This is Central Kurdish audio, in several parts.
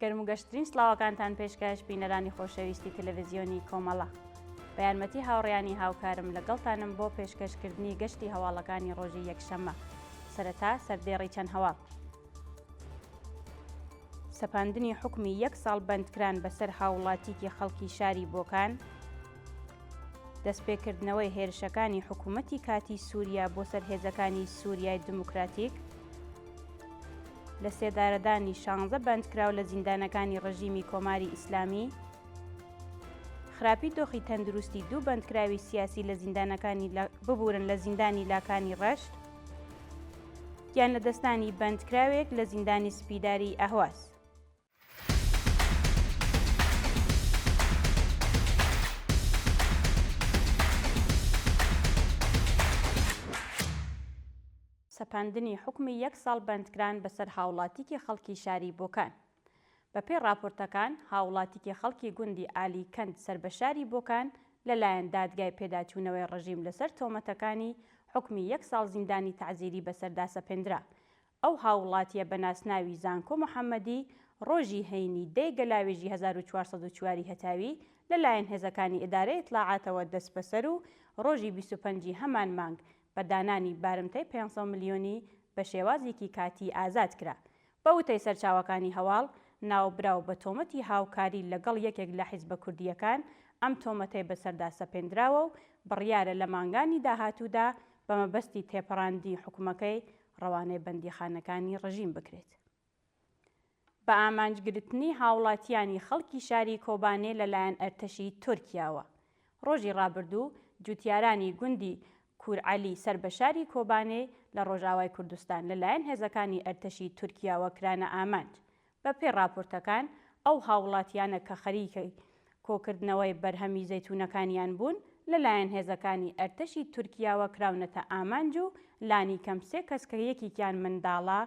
گەرم و گەشترین سلااوەکانتان پێشکەش بینەرانی خۆشەویستی تەلەڤزیۆنی کۆمەڵە بە یارمەتی هاوڕیانی هاوکارم لەگەڵتانم بۆ پێشکەشکردنی گەشتی هەواڵەکانی ڕۆژی یەکشەممە سەرەتا سەردێڕی چەند هەواڵ سەپاندنی حکومی یەک ساڵ بەندکران بەسەر هاوڵاتیکی خەڵکی شاری بۆکان، دەستپێکردنەوەی هێرشەکانی حکوومەتی کاتی سووریا بۆ سەر هێزەکانی سووریای دموکراتیک، لە سێدارەدانی شانزە بەندکراو لە زیندانەکانی ڕژیمی کۆماری ئیسلامی، خراپی دۆخی تەندروستی دوو بەندکراوی سیاسی لە زیندانەکانی ببورن لە زیندانی لاکانی ڕەشت، گیان لەدەستدانی بەندکراوێک لە زیندانی سپیداری ئەهواز. سەپاندنی حوکمی یەک ساڵ بەندکران بەسەر هاوڵاتیکی خەڵکی شاری بۆکان. بەپێی ڕاپۆرتەکان، هاوڵاتیکی خەڵکی گوندی ئالی کەند سەر بە شاری بۆکان لەلایەن دادگای پێداچوونەوەی ڕژیم لەسەر تۆمەتەکانی حوکمی یەک ساڵ زیندانی تەعزیری بەسەردا سەپێندرا. ئەو هاووڵاتییە بە ناسناوی زانکۆ محەممەدی ڕۆژی هەینی دەی گەلاوێژی هەزار و چوار سەد و چوار ی هەتاوی لەلایەن هێزەکانی ئیدارەی ئیتلاعاتەوە دەستبەسەر و ڕۆژی بیست و پەنج ی هەمان مانگ بە دانانی بارمتەی پێنج سەد ملیۆنی بە شێوازیکی کاتی ئازاد کرا بە وتەی سەرچاوەکانی هەواڵ، ناوبراو بە تۆمەتی هاوکاری لەگەڵ یەکێک لە حیزبە کوردییەکان ئەم تۆمەتەی بەسەردا سەپێندراوە و بڕیارە لە مانگانی داهاتوودا بە مەبەستی تێپەڕاندنی حوکمەکەی ڕەوانەی بەندیخانەکانی ڕژیم بکرێت. بە ئامانجگرتنی هاوڵاتییانی خەڵکی شاری کۆبانێ لەلایەن ئەرتەشی تورکیاوە، ڕۆژی ڕابردوو جووتیارانی گوندی کورعەلی سەر بە شاری کۆبانێ لە ڕۆژئاوای کوردستان لەلایەن هێزەکانی ئەرتەشی تورکیاوە کرانە ئامانج. بەپێی ڕاپۆرتەکان، ئەو هاووڵاتییانە کە خەریکی کۆکردنەوەی بەرهەمی زەیتوونەکانیان بوون، لەلایەن هێزەکانی ئەرتەشی تورکیاوە کراونەتە ئامانج و لانیکەم سێ کەس کە یەکێکیان منداڵە،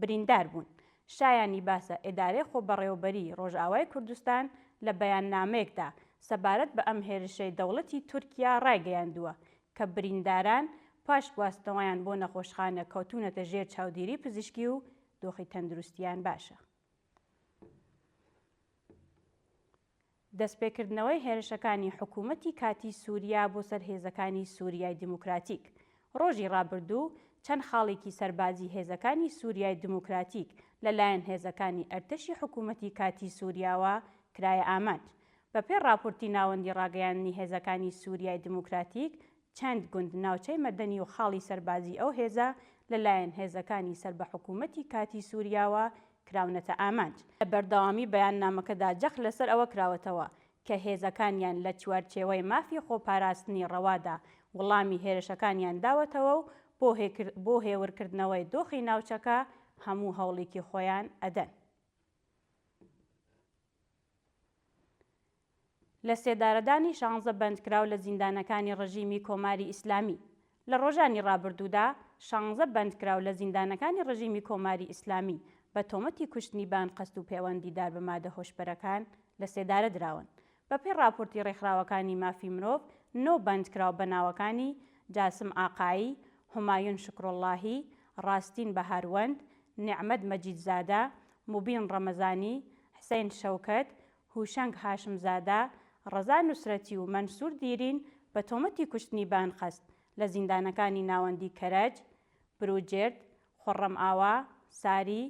بریندار بوون. شایانی باسە ئێدارەی خۆبەڕێوەبەریی ڕۆژئاوای کوردستان لە بەیاننامەیەکدا سەبارەت بە ئەم هێرشەی دەوڵەتی تورکیا ڕایگەیاندووە کە برینداران پاش گواستنەوەیان بۆ نەخۆشخانە کەوتوونەتە ژێر چاودێری پزیشکی و دۆخی تەندروستییان باشە. دەستپێکردنەوەی هێرشەکانی حکوومەتی کاتیی سووریا بۆ سەر هێزەکانی سووریای دیموکراتیک، ڕۆژی ڕابردوو چەند خاڵێکی سەربازیی هێزەکانی سووریای دیموکراتیک لە لایەن هێزەکانی ئەرتەشی حکوومەتی کاتیی سووریاوە کرایە ئامانج. بە پێی ڕاپورتی ناوەندی ڕاگەیاندنی هێزەکانی سووریای دیموکراتیک چەند گوند، ناوچەی مەدەنی و خاڵی سەربازیی ئەو هێزە لە لایەن هێزەکانی سەر بە حکوومەتی کاتیی سووریاوە کراونەتە ئامانج. لە بەردەوامیی بەیاننامەکەدا جەخت لە سەر ئەوە کراوەتەوە کە هێزەکانیان لە چوارچێوەی مافی خۆپاراستنی ڕەوادا وڵامی هێرشەکانیان داوەتەوە و بۆ هێور کردنەوەی دۆخی ناوچەکە هەموو هەوڵیکی خۆیان ئەدەن. لەسێدارەدانی شانزە بەندکراو لە زیندانەکانی ڕژیمی کۆماری ئیسلامی لە ڕۆژانی ڕابردوودا، شانزە بەندکراو لە زیندانەکانی ڕژیمی کۆماری ئیسلامی بە تۆمەتی کوشتنی بە ئەنقەست و پێوەند دیدار بە مادە هۆشبەرەکان لە سێدارە دراون. بەپێی ڕاپۆرتی ڕێکخراوەکانی مافی مرۆڤ، نۆ بەندکراو بە ناوەکانی، جاسم ئاقایی، هومایون شوکروڵڵاهی، ڕاستین بەهاروەند، نێعمەت مەجیدزادە، موبین ڕەمەزانی، حسەین شەوکەت هوشەنگ هاشمزادە، ڕەزا نوسرەتی و مەنسور دیرین بە تۆمەتی کوشتنی بە ئەنقەست لە زیندانەکانی ناوەندی کەرەج، بروجرد، خوڕەمئاوا، ساری،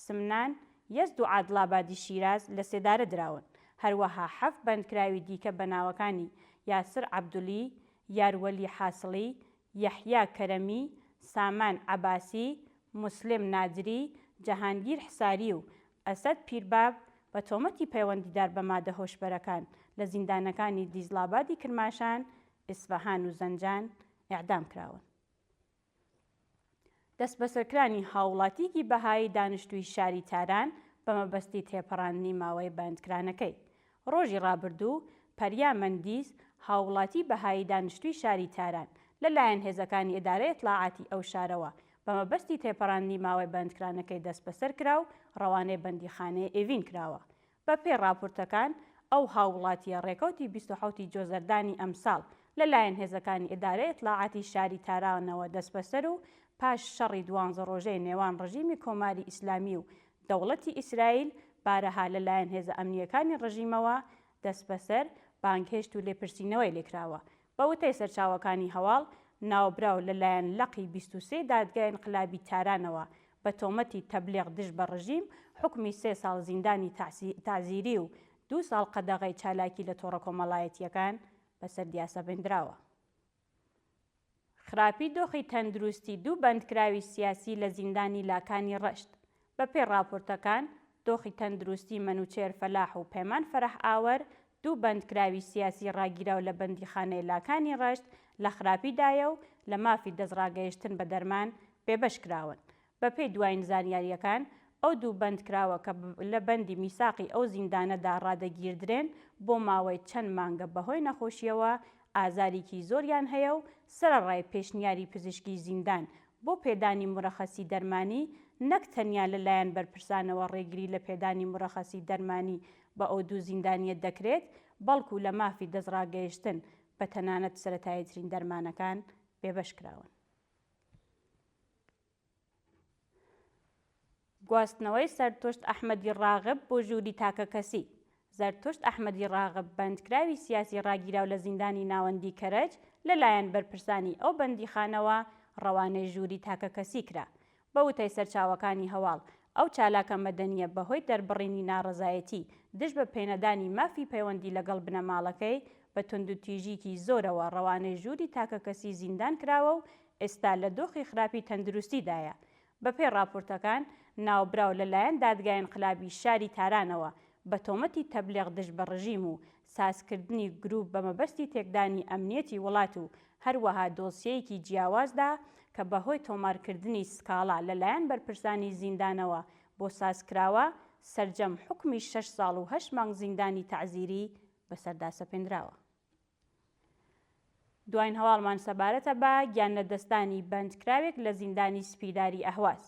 سمنان، یەزد و عادڵابادی شیراز لە سێدارە دراون، هەروەها حەفت بەندکراوی دیکە بە ناوەکانی یاسر عەبدولی، یار وەلی حاسڵی، یەحیا کەرەمی، سامان عەباسی، موسلم نادری، جەهانگیر حساری و ئەسەد پیرباب بە تۆمەتی پەیوەندیدار بە مادە هۆشبەرەکان لە زیندانەکانی دیزڵابادی کرماشان، ئیسفەهان و زەنجان ئێعدام کراون. دەستبەسەرکرانی هاووڵاتییەکی بەهایی دانشتووی شاری تاران بە مەبەستی تێپەڕاندنی ماوەی بەندکرانەکەی، ڕۆژی ڕابردوو، پەریا مەندیز، هاووڵاتیی بەهایی دانیشتووی شاری تاران، لەلایەن هێزەکانی ئیدارەی ئیتلاعاتی ئەو شارەوە بە مەبەستی تێپەڕاندنی ماوەی بەندکرانەکەی دەستبەسەر کرا و ڕەوانەی بەندیخانەی ئێڤین کراوە. بەپێی ڕاپورتەکان، ئەو هاووڵاتییە ڕێکەوتی بیست و حەوت ی جۆزەردانی ئەمساڵ لەلایەن هێزەکانی ئیدارەی ئیتلاعاتی شاری تارانەوە دەستبەسەر و پاش شەڕی دوانزە ڕۆژەی نێوان ڕژیمی کۆماری ئیسلامی و دەوڵەتی ئیسرائیل بارەها لە لایەن هێزە ئەمنییەکانی ڕژیمەوە دەسبەسەر، بانگهێشت و لێپرسینەوەی لێکراوە. بە وتەی سەرچاوەکانی هەواڵ، ناوبراو لە لایەن لقی بیست و سێ دادگای ئینقلابی تارانەوە بە تۆمەتی تەبلیغ دژ بە ڕژیم حوکمی سێ ساڵ زیندانی تەعزیری و دوو ساڵ قەدەغەی چالاکی لە تۆڕە کۆمەڵایەتییەکان بەسەر دیاسەبندراوە. خراپی دۆخی تەندروستی دوو بەندکراوی سیاسی لە زیندانی لاکانی ڕەشت. بەپێی ڕاپۆرتەکان، دۆخی تەندروستی مەنوچێر فەلاح و پەیمان فەرەح ئاوەر، دوو بەندکراوی سیاسی ڕاگیراو لە بەندیخانەی لاکانی ڕەشت لە خراپیدایە و لە مافی دەستڕاگەیشتن بە دەرمان بێبەش کراون بەپێی دوایین زانیارییەکان، ئەو دوو بەندکراوە کە لە بەندی میساقی ئەو زیندانەدا ڕادەگیردرێن، بۆ ماوەی چەند مانگە بەهۆی نەخۆشییەوە ئازاریکی زۆریان هەیە و سەرەڕای پێشنیاری پزیشکی زیندان بۆ پێدانی مورەخەسی دەرمانی، نەک تەنیا لەلایەن بەرپرسانەوە ڕێگری لە پێدانی مورەخەسی دەرمانی بە ئەو دوو زیندانییە دەکرێت، بەڵکو لە مافی دەستڕاگەیشتن بە تەنانەت سەرەتاییترین دەرمانەکان بێبەش کراون. گواستنەوەی سەرتشت ئەحمەدی ڕاغب بۆ ژووری تاکەکەسی، زەرتشت ئەحمەدی ڕاغب بەندکراوی سیاسی ڕاگیراو لە زیندانی ناوەندیی کەرەج لە لایەن بەرپرسانی ئەو بەندیخانەوە ڕەوانەی ژووری تاکەکەسی کرا. بە وتەی سەرچاوەکانی هەواڵ، ئەو چالاکە مەدەنییە بەهۆی دەربڕینی ناڕەزایەتی دژ بە پێنەدانی مافی پەیوەندی لەگەڵ بنەماڵەکەی، بە توندوتیژیی زۆرەوە ڕەوانەی ژووری تاکەکەسی زیندان کراوە و ئێستا لە دۆخی خراپی تەندروستیدایە. بەپێی ڕاپۆرتەکان، ناوبراو لەلایەن دادگای ئینقلابی شاری تارانەوە بە تۆمەتی تەبلیغ دژ بە ڕژیم و سازکردنی گروپ بە مەبەستی تێکدانی ئەمنیەتی وڵات و هەروەها دۆسیەیەکی جیاوازدا کە بەهۆی تۆمارکردنی سکاڵا لەلایەن بەرپرسانی زیندانەوە بۆ سازکراوە، سەرجەم حوکمی شەش ساڵ و هەشت مانگ زیندانی تەعزیری بەسەردا سەپێندراوە. دواین هەواڵمان سەبارەتە بە گیانلەدەستدانی بەندکراوێک لە زیندانی سپیداری ئەهواز.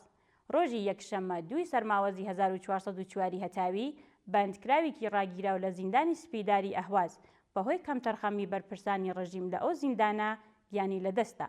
ڕۆژی یەکشەممە دووی سەرماوەزی هەزار و چوار سەد و چوار ی هەتاوی، بەندکراوێکی ڕاگیراو لە زیندانی سپیداری ئەهواز بەهۆی کەمتەرخەمی بەرپرسانی ڕژیم لە ئەو زیندانە گیانی لەدەستدا.